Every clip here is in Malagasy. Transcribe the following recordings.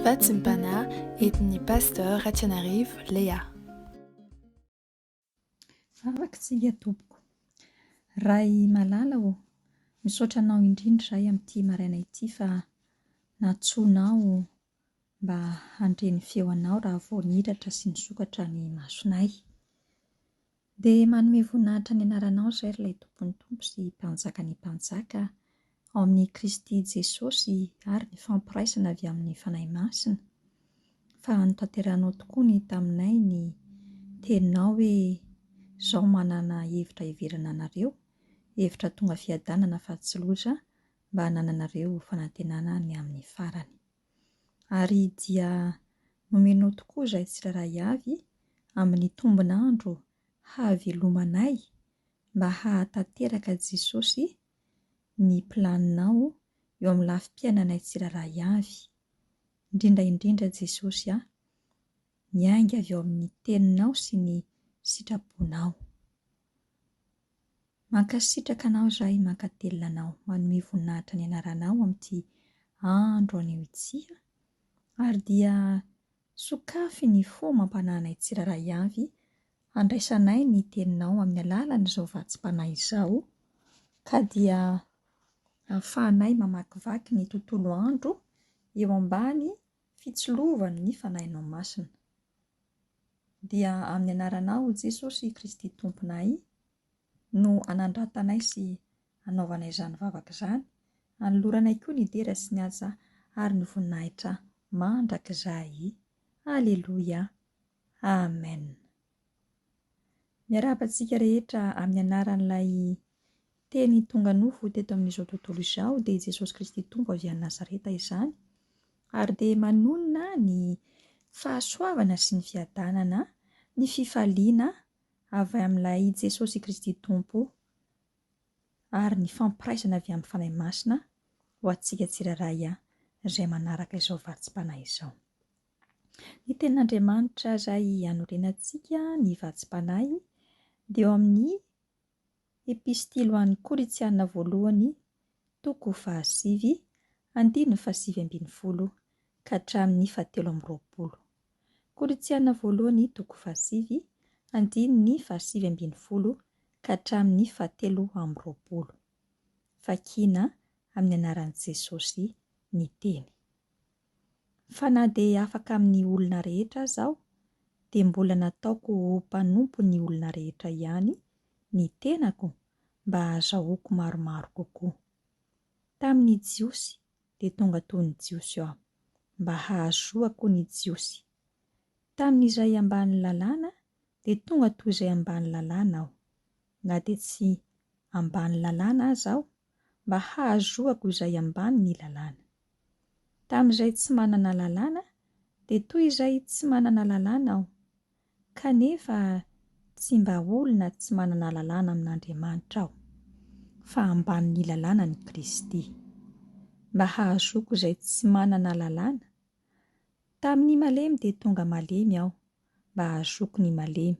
Fahatsimpana entin'ny Pasteur Ratsianarivo Léa. Vavaka tsika tompoko. Ray malala ô, misaotra anao indrindra izahay amin'ity maraina ity fa nantsoinao mba handre ny feo anao raha vao nihiratra sy nisokatra ny masonay. Dia manome voninahitra ny anaranao izay ry Ilay Tompon'ny Tompo sy Mpanjakan'ny Mpanjaka, ao amin'i Kristy Jesosy ary ny fampiraisana avy amin'ny Fanahy Masina, fa notanterahinao tokoa ny taminay ny teninao hoe, Izaho manana hevitra hiverina anareo, hevitra tonga fiadanana fa tsy loza, mba hanananareo fanantenana ny amin'ny farany. Ary dia nomenao tokoa izahay tsirairay avy amin'ny tombon'andro hahavelomanay mba hahatanteraka Jesosy ny planinao eo amin'ny lafim-piainanay tsirairay avy. Indrindra indrindra Jesosy a! Miainga avy ao amin'ny Teninao sy ny sitrapon-Ao. Mankasitraka anao izahay mankatelina anao manome voninahitra ny anaranao amin'ity andro anio ity a! ary dia sokafy ny fo mampanahinay tsirairay avy handraisanay ny teninao amin'ny alalan'izao vatsim-panahy izao ka dia ahafahanay mamakivaky ny tontolo andro eo ambany fitsilovan'ny fanahinao masina dia amin'ny anaranao Jesosy Kristy Tomponay no anandratanay sy anaovanay izany vavaka izany, anoloranay koa ny dera sy ny asa ary ny voninahitra mandrakizay. Aleloia! Amen! Miarahaba antsika rehetra amin'ny anaran'ilay Teny tonga nofo teto amin'izao tontolo izao, dia Jesosy Kristy Tompo avy any Nazareta izany, ary dia manonona ny fahasoavana sy ny fiadanana, ny fifaliana avy amin'ilay i Jesosy Kristy Tompo ary ny fampiraisana avy amin'ny Fanahy Masina ho antsika tsirairay izay manaraka izao vatsim-panahy izao. Ny Tenin'Andriamanitra izay anorenantsika ny vatsim-panahy dia eo amin'ny Epistily ho an'ny Korintiana Voalohany, toko fahasivy, andininy fahasivy ambin'ny folo ka hatramin'ny fahatelo amby roapolo. Korintiana Voalohany, toko fahasivy, andininy fahasivy ambin'ny folo ka hatramin'ny fahatelo amby roapolo. Vakiana amin'ny anaran'i Jesosy ny teny. Fa na dia afaka amin'ny olona rehetra aza aho, dia mbola nataoko ho mpanompon'ny olona rehetra ihany ny tenako mba hahazahoako maromaro kokoa. Tamin'ny Jiosy, dia tonga toy ny Jiosy aho, mba hahazoako ny Jiosy. Tamin'izay ambanin'ny Lalàna, dia tonga toy izay ambanin'ny Lalàna aho, na dia tsy ambanin'ny Lalàna aza aho. mba hahazoako izay ambany ny lalàna. Tamin'izay tsy manana lalàna dia toy izay tsy manana lalàna aho, kanefa tsy mba olona tsy manana lalàna amin'Andriamanitra aho, fa ambany ny lalànan'i Kristy, mba hahazoako izay tsy manana lalàna. Tamin'ny malemy dia tonga malemy aho, mba hahazoako ny malemy.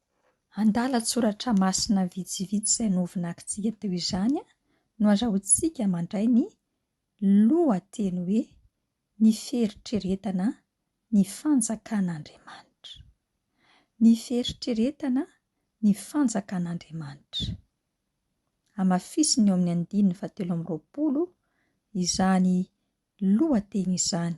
Andalan-tsoratra masina vitsivitsy izay novonakintsika teo izany no azahoantsika mandray ny lohateny hoe Ny Fieritreretana ny Fanjakan'Andriamanitra. Ny Fieritreretana ny Fanjakan'Andriamanitra. Hamafisiny eo amin'ny andininy fahatelo amby roapolo izany lohateny izany.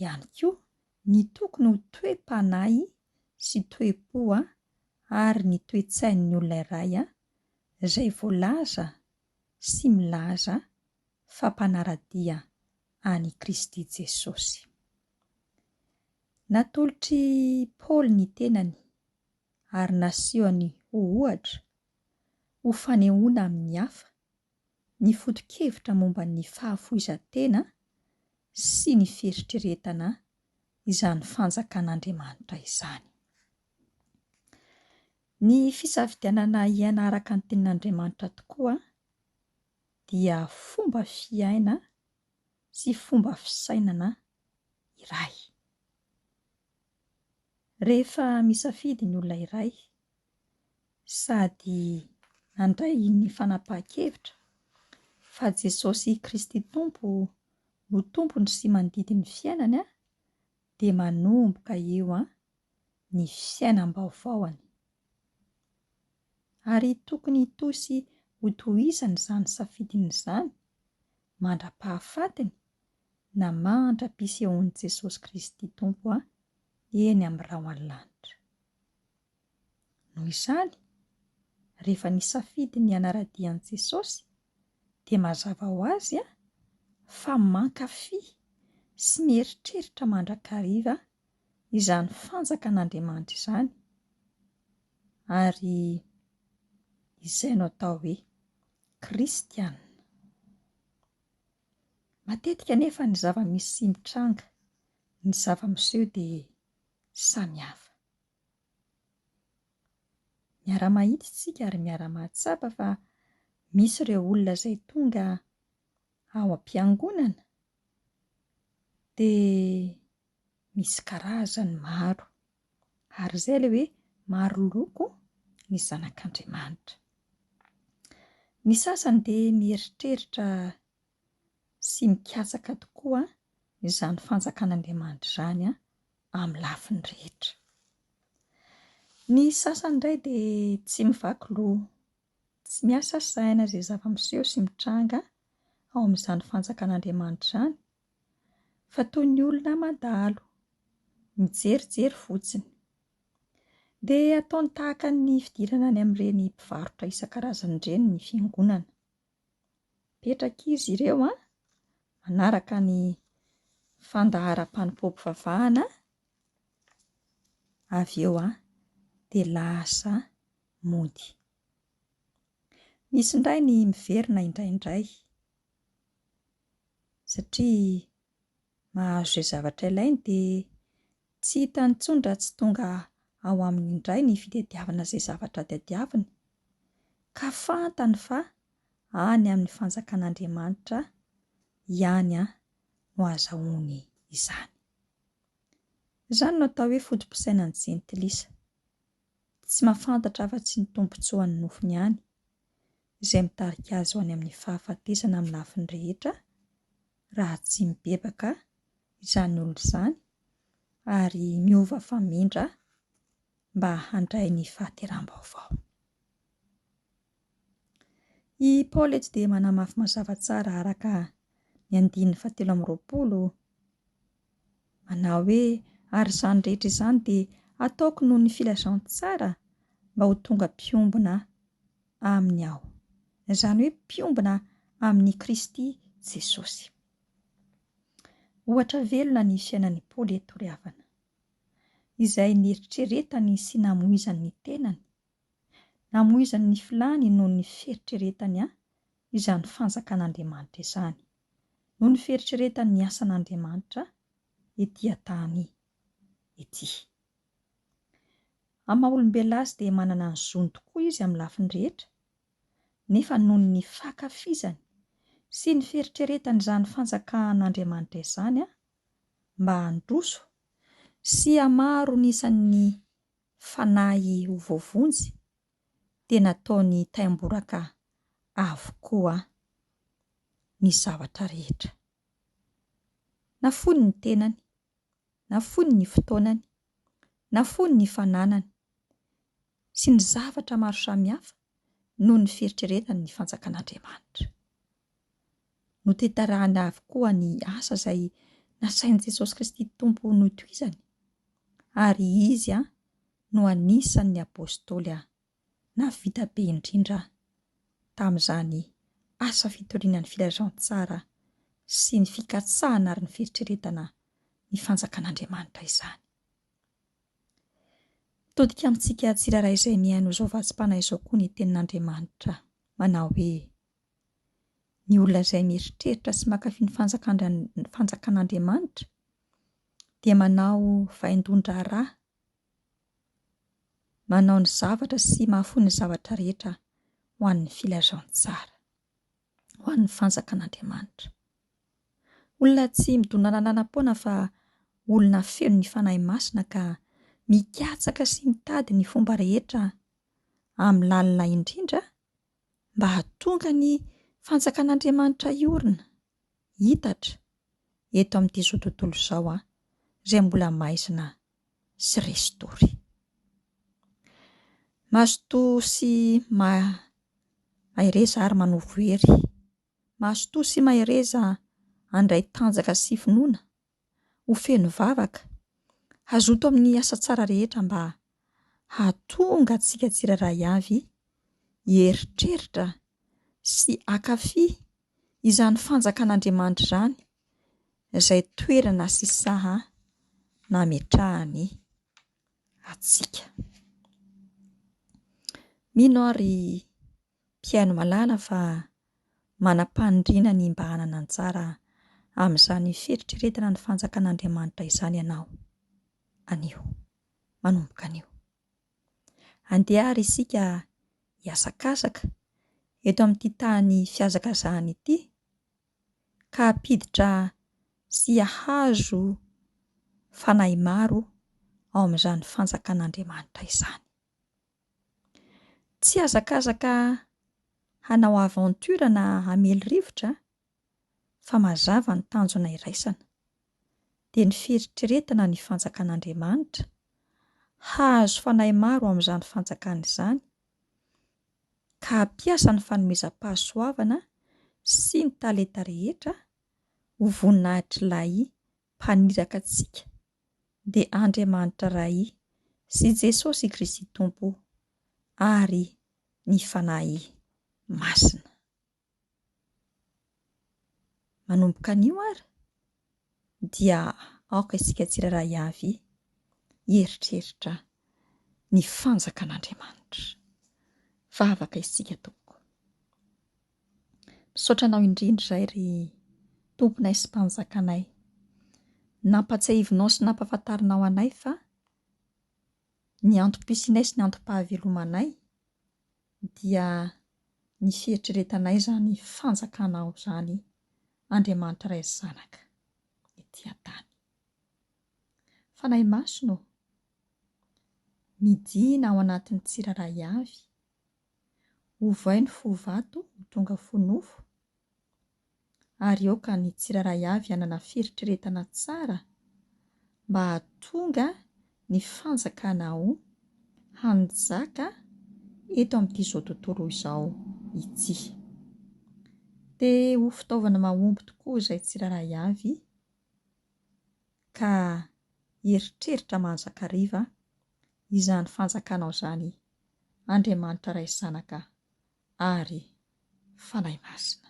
ihany koa ny tokony ho toe-panahy sy toe-po ary ny toe-tsain'ny olona iray izay voalaza sy milaza fa mpanara-dia an'i Kristy Jesosy. Natolotr'i Paoly ny tenany ary nasehony ho ohatra ho fanehoana amin'ny hafa ny foto-kevitra momba ny fahafoizan-tena sy ny fieritreretana izany Fanjakan'Andriamanitra izany. Ny fisafidianana hiaina araka ny Tenin'Andriamanitra tokoa dia fomba fiaina sy fomba fisainana iray. Rehefa misafidy ny olona iray sady nandray ny fanapahan-kevitra fa Jesosy Kristy Tompo no tompony sy mandidy ny fiainany aho dia manomboka eo an ny fiainam-baovaony. Ary tokony hitohy sy hotohizany izany safidiny izany mandra-pahafatiny na mandra-pisehoan'i Jesosy Kristy Tompo eny amin'ny rahona lanitra. Noho izany, rehefa nisafidy ny hanara-dia an'i Jesosy, dia mazava ho azy fa mankafy sy mieritreritra mandrakariva izany fanjakan'Andriamanitra izany, ary izay no atao hoe kristiana. Matetika anefa ny zava-misy sy ny tranga, ny zava-miseho dia samy hafa. Miara-mahita isika ary miara-mahatsapa fa misy ireo olona izay tonga ao am-piangonana dia misy karazany maro. Ary izay ilay hoe maro loko ny zanak'Andriamanitra. Ny sasany dia mieritreritra sy mikatsaka tokoa izany fanjakan'Andriamanitra izany an! amin'ny lafiny rehetra. Ny sasany indray dia tsy mivaky loha, tsy miasa saina izay zava-miseho sy mitranga ao amin'izany fanjakan'Andriamanitra izany, fa toy ny olona mandalo, mijerijery fotsiny. Dia ataony tahaka ny fidirana any amin'ireny mpivarotra isan-karazany ireny ny fiangonana. Mipetraka izy ireo an, manaraka ny fandaharam-panompoam-pivavahana, avy eo an dia lasa mody. Misy indray ny miverina indraindray satria. mahazo izay zavatra ilainy dia tsy hitany intsony raha tsy tonga ao aminy indray ny fitadiavana izay zavatra tadiaviny, ka fantany fa any amin'ny fanjakan'Andriamanitra ihany no azahoany izany. Izany no atao hoe foto-pisainan'ny jentilisa, tsy mahafantatra afa-tsy ny tombontsoan'ny nofony ihany, izay mitarika azy ho any amin'ny fahafatesana amin'ny lafiny rehetra, raha tsy mibebaka izany olona izany ary miova famindra mba handray ny fahateram-baovao. I Paoly eto dia manamafy mazava tsara araka ny andininy fahatelo amby roapolo, Manao hoe, Ary izany rehetra izany dia hataoko noho ny filazantsara mba ho tonga mpiombona Aminy aho. Izany hoe mpiombona amin'i Kristy Jesosy. Ohatra velona ny fiainan'i Paoly eto ry havana. Izay nieritreretany sy namoizany ny tenany. Namoizany ny filàny noho ny fieritreretany an izany fanjakan'Andriamanitra izany. noho ny fieritreretan'ny asan'Andriamanitra ety an-tany ety. Amin'ny maha olombelona azy dia manana ny zony tokoa izy amin'ny lafiny rehetra, nefa noho ny fankafizany sy ny fieritreretany izany fanjakan'Andriamanitra izany mba handroso sy hamaro ny isan'ny fanahy ho voavonjy, dia nataony taim-boraka avokoa ny zavatra rehetra. Nafoiny ny tenany, nafoiny ny fotoanany, nafoiny ny fananany sy ny zavatra maro samihafa noho ny fieritreretany ny Fanjakan'Andriamanitra. Notetarahany avokoa ny asa izay nasain'i Jesosy Kristy Tompo notohizany ary izy no anisan' ny Apôstôly aho, na vita be indrindra aho tamin' izany asa fitoriana ny filazantsara sy ny fikatsahana ary ny fieritreretana ny Fanjakan' Andriamanitra izany. Mitodika amintsika tsirairay izay mihaino izao vatsim-panahy izao koa ny Tenin' Andriamanitra, manao hoe, Ny olona izay mieritreritra sy mankafy ny Fanjakan' Andriamanitra dia manao vaindohan-draharaha Manao ny zavatra sy mahafoy ny zavatra rehetra ho an'ny filazantsara, ho an'ny fanjakan'Andriamanitra. Olona tsy midona lalanam-poana fa olona feno ny Fanahy Masina ka mikatsaka sy mitady ny fomba rehetra amin'ny lalina indrindra mba hahatonga ny fanjakan'Andriamanitra hiorina hitatra eto amin'ity izao tontolo izao an, izay mbola maizina sy resy tory. Mazotoa sy ma mahereza ary manovo hery. Mazotoa sy mahereza handray tanjaka sy finoana. ho feno vavaka, hazoto amin'ny asa tsara rehetra mba hahatonga antsika tsirairay avy hieritreritra sy hankafy izany fanjakan'Andriamanitra izany izay toerana sy saha nametrahany antsika. Mino aho ry mpihaino malala fa manam-paniriana ny mba hanana anjara amin'izany fieritreretana ny Fanjakan'Andriamanitra izany ianao, anio, manomboka anio. Andeha àry isika hiasakasaka eto amin'ity tany fihazakazahana ity, ka hampiditra sy hahazo fanahy maro ao amin'izany Fanjakan'Andriamanitra izany. Tsy hazakazaka hanao aventure na hamely rivotra an, fa mazava ny tanjona iraisana, dia ny fieritreretana ny fanjakan'Andriamanitra, hahazo fanahy maro amin'izany fanjakana izany, ka hampiasa ny fanomezam-pahasoavana sy ny talenta rehetra ho voninahitr'Ilay Mpaniraka antsika. dia Andriamanitra Ray sy Jesosy Kristy Tompo ary ny Fanahy Masina. Manomboka anio ary dia aoka isika tsirairay avy hieritreritra ny fanjakan'Andriamanitra. Vavaka isika tompoko. Misaotra anao indrindra izay ry Tomponay sy Mpanjakanay. Nampatsiahivinao sy nampahafantarinao anay fa ny antom-pisianay sy ny antom-pahavelomanay dia ny fieritreretanay izany Fanjakanao izany, Andriamanitra Ray sy Zanaka, ety an-tany. Fanahy Masina ô, midina ao anatin'ny tsirairay avy Ovay ny fo vato ho tonga fo nofo, ary aoka ny tsirairay avy hanana fieritreretana tsara mba hahatonga ny Fanjakana ao hanjaka eto amin'ity izao tontolo izao ity. Te ho fitaovana mahomby tokoa izay tsirairay avy ka hieritreritra manjakariva izany Fanjakanao izany Andriamanitra Ray sy Zanaka ary Fanahy Masina.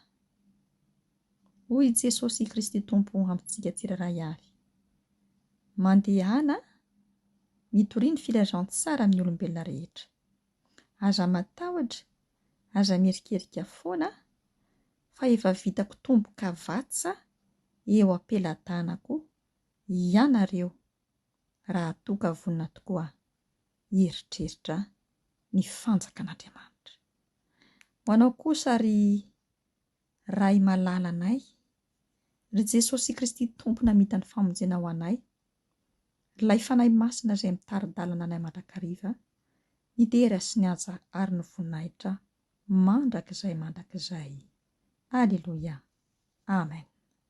Hoy i Jesosy Kristy Tompo amintsika tsirairay avy, Mandehana mitoria ny filazantsara amin'ny olombelona rehetra. Aza matahotra, aza mierikerika foana fa efa vitako tombokavatsa eo am-pelatanako ianareo. raha toa ka vonona tokoa hieritreritra ny fanjakan'Andriamanitra. Ho anao kosa ry Ray malala anay, ry Jesosy Kristy Tompo namita ny famonjena ho anay, r'ilay Fanahy Masina izay mitari-dalana anay mandrakariva, ny dera sy ny haja ary ny voninahitra mandrakizay mandrakizay. Aleloia. Amen.